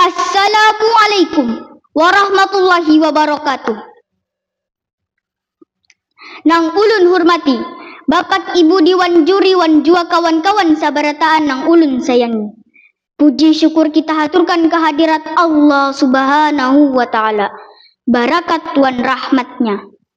Assalamualaikum warahmatullahi wabarakatuh. Nang ulun hurmati Bapak Ibu Diwan Juri wan jua kawan-kawan sabarataan nang ulun sayangi. Puji syukur kita haturkan ka hadirat Allah Subhanahu wa Ta'ala, barakat wan rahmat-Nya.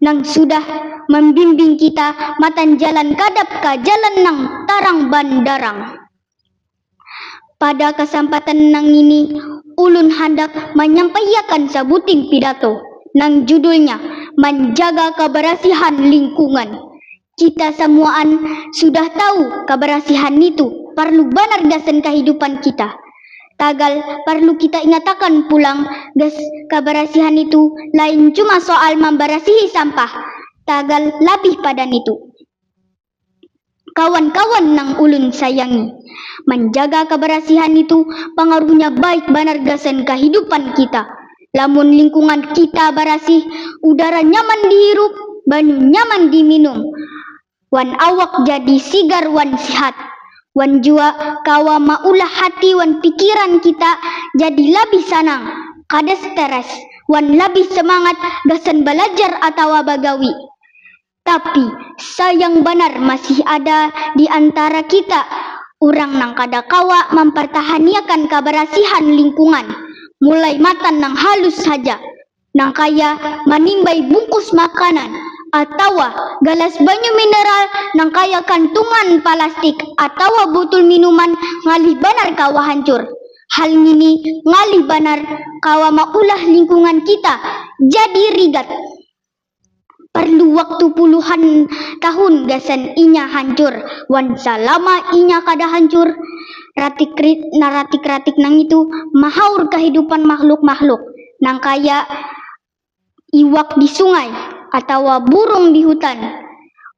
nang sudah mambimbing kita matan jalan kadap ka jalan nang tarang bandarang. Pada kasampatan nangini, ulun handak manyampaiakan sabuting pidato nang judulnya Manjaga Kabarasihan Lingkungan Kita samuaan sudah tahu kabarasihan nitu parlu banar gasan kahidupan kita. Tagal parlu kita ingatakan pulang gas kabarasihan nitu lain cuma soal mambarasihi sampah, tagal labih pada nitu. Kawan-kawan nang ulun sayangi, manjaga kabarasihan nitu pangaruhnya baik banar gasan kahidupan kita. Lamun lingkungan kita barasih, udara nyaman dihirup, banyu nyaman diminum, wan awak jadi sigar wan sihat. Wan jua kawa maulah hati wan pikiran kita jadi labih sanang, kada stres, wan labih semangat gasan balajar atawa bagawi. Tapi, sayang banar masih ada di antara kita urang nang kada kawa mampartahaniakan kabarasihan lingkungan, mulai matan nang halus haja, nangkaya manimbai bungkus makanan atawa galas banyu mineral nangkaya kantungan palastik atawa butul minuman ngalih banar kawa hancur. Hal ngini ngalih banar kawa maulah lingkungan kita jadi rigat. Parlu waktu puluhan tahun gasan inya hancur, wan salama inya kada hancur, ratik-ratik nangitu mahaur kahidupan makhluk-makhluk nangkaya iwak di sungai atawa burung di hutan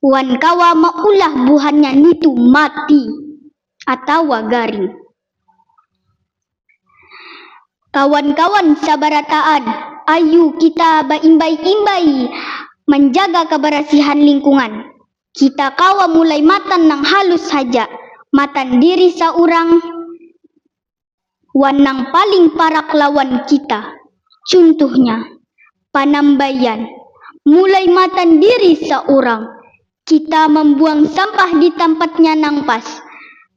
wan kawa maulah buhannya nitu mati. atawa garing. Kawan-kawan sabarataan, ayu kita baimbai-imbai manjaga kabarasihan lingkungan. Kita kawa mulai matan nang halus haja, matan diri saurang, wan nang paling parak lawan kita, cuntuhnya, panambaian, mulai matan diri saurang, kita mambuang sampah di tampatnya nang pas,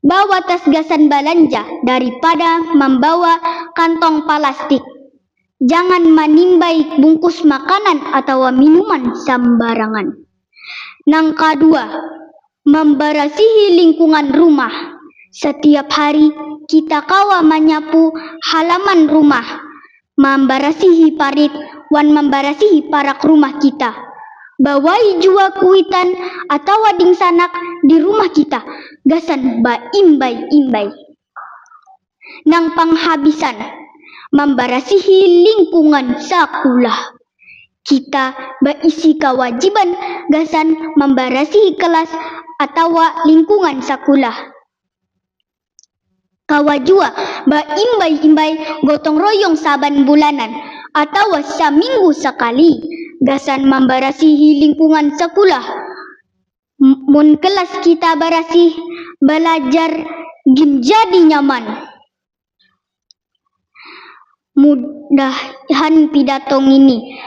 bawa tas gasan balanja daripada mambawa kantong palastik, jangan manimbai bungkus makanan atawa minuman sambarangan. Nang kadua, mambarasihi lingkungan rumah. Satiap hari kita kawa manyapu halaman rumah, mambarasihi parit, wan mambarasihi parak rumah kita. Bawai jua kuitan atawa dingsanak di rumah kita gasan baimbai-imbai. nang panghabisan mambarasihi lingkungan sakulah. Kita baisi kawajiban gasan mambarasihi kelas atawa lingkungan sakulah. Kawa jua baimbai-imbai gotong royong saban bulanan atawa saminggu sakali gasan mambarasihi lingkungan sakulah. Mun kelas kita barasih, balajar gin jadi nyaman. Mudahan pidato ngini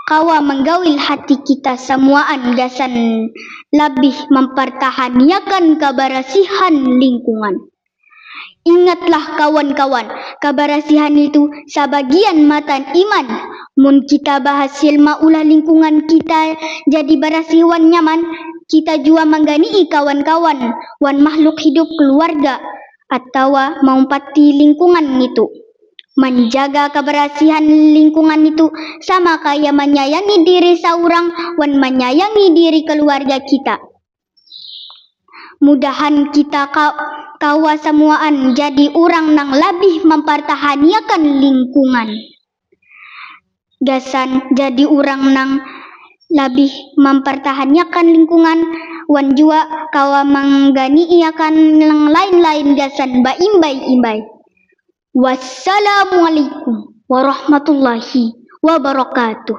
kawa manggawil hati kita samuaan gasan labih mampartahaniakan kabarasihan lingkungan. Ingatlah kawan-kawan, kabarasihan nitu sabagian matan iman. Mun kita bahasil maulah lingkungan kita jadi barasih wan nyaman, kita jua manggani'i kawan-kawan wan makhluk hidup kaluarga atawa maumpati lingkungan nitu. Manjaga kabarasihan lingkungan nitu sama kaya manyayangi diri saurang wan manyayangi diri kaluarga kita. Mudahan kita kawa samuaan jadi urang nang labih mampartahaniakan lingkungan gasan jadi urang nang labih mampartahaniakan lingkungan wan jua kawa manganiiakan nang lain-lain gasan baimbai-imbai. Wassalamualaikum warahmatullahi wabarakatuh.